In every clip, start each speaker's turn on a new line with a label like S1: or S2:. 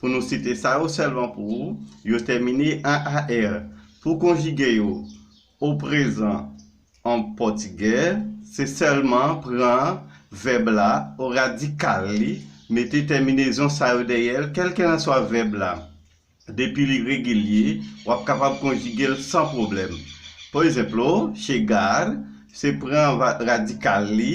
S1: Pou nou site sa yo sèlman pou ou, yo tèmine an ar. Pou konjige yo o prezan an pòtigè, se sèlman pran vèb la o radikal li, mete tèminezon sa yo dèyè l, kèlkelanswa vèb la, depi li regilye, w ap kapab konjige l san pwoblèm. Por ezenplo, chegar, se pran radikal li,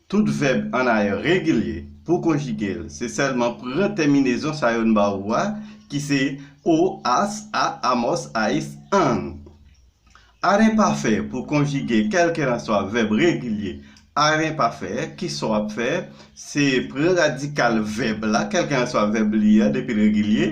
S1: Tout vèb annayè regilye, pou konjige l, se sèlman pran tèminezon sa yo n ba ou a, ki se, o, as, a, amos, ais, an. Ar enpafè pou konjige kèlkelanswa vèb regilye ar enpafè, ki sa w ap fè? Se pran radikal vèb la, kèlkelanswa vèb li a, depi l regilye,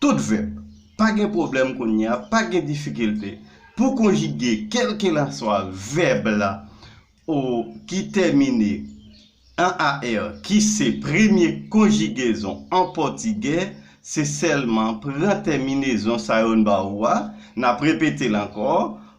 S1: Tout vèb. Pa gen pwoblèm kounye a, pa gen difikilte pou konjige kèlkelanswa vèb la o ki tèmine an ar ki se premye konjigezon an pòtigè, se sèlman pran tèminezon sa yo n ba ou a, n ap repete l ankò,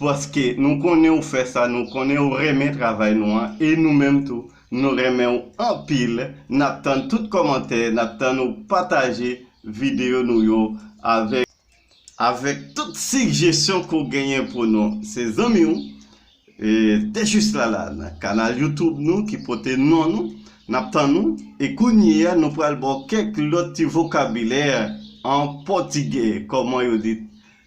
S1: Paske nou konnen ou fè sa, nou konnen ou renmen travay nou an, e nou menm tou, nou renmen ou anpil, nap tann tout kòmantè, nap tann ou pataje video nou yo avèk. Avèk tout sigjesyon ke w genyen pou nou. Se zanmi w, The Juste Lalanne, kanal YouTube nou ki pote non nou, nap tann ou, e kounyeya nou pral ba w kèk lòt ti vokabilè an pòtigè, kòman yo di.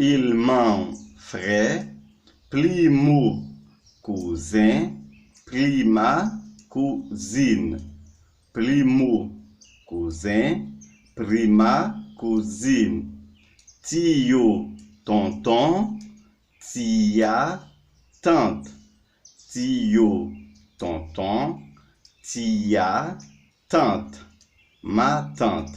S1: Il man frè, pli mou kouzen, pli ma kou zin. Pli mou kouzen, pri ma kou zin. Ti yo tonton, ti ya tant. Ti yo tonton, ti ya tant. Ma tant.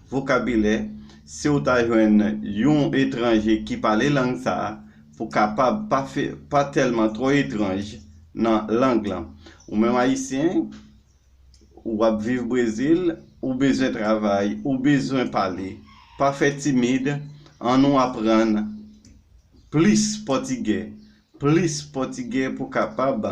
S1: Vokabilè, Si w ta jwenn yon etranje ki pale lang sa a, pou kapab pa pa tèlman twò etranj nan lang lan. Ou menm Ayisyen, ou ap viv Brezil, ou bezwen travay, ou bezwen pale. Pa fè timid, an nou aprann plis pòtigè, plis pòtigè pou kapab.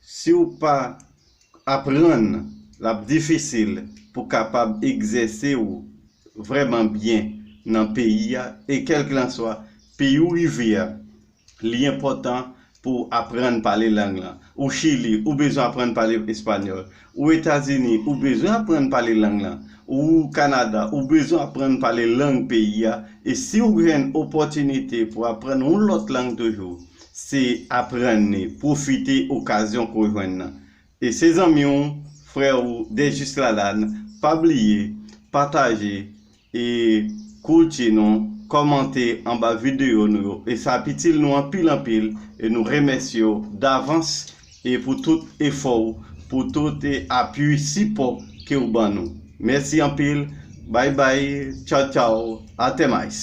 S1: Siw pa aprann lap difisil pou kapab egzèse ou vrèman byen nan peyi a e kèlklanswa peyi ou rive a li enpòtan pouw aprann pale lang lan ou chili ou bezwen aprann pale espanyòl Ou Etazini, ou bezwen aprann pale lang lan. Ou Kanada, ou bezwen aprann pale lang peyi a. E si ou jwenn opòtinite pou aprann yon lòt lang toujou, se aprann li, pwofite okazyon ke w jwenn nan. E se zanmi w, frè w Desjuslalane, pa bliye, pataje, E Koulti nou kòmante anba videyo nou yo e sa ap itil nou anpil anpil e nou remèsye w davans e pou tout efò w pou tout e apui sipò ke w ban nou mèsi anpil bay bay tchaw tchaw atemayis.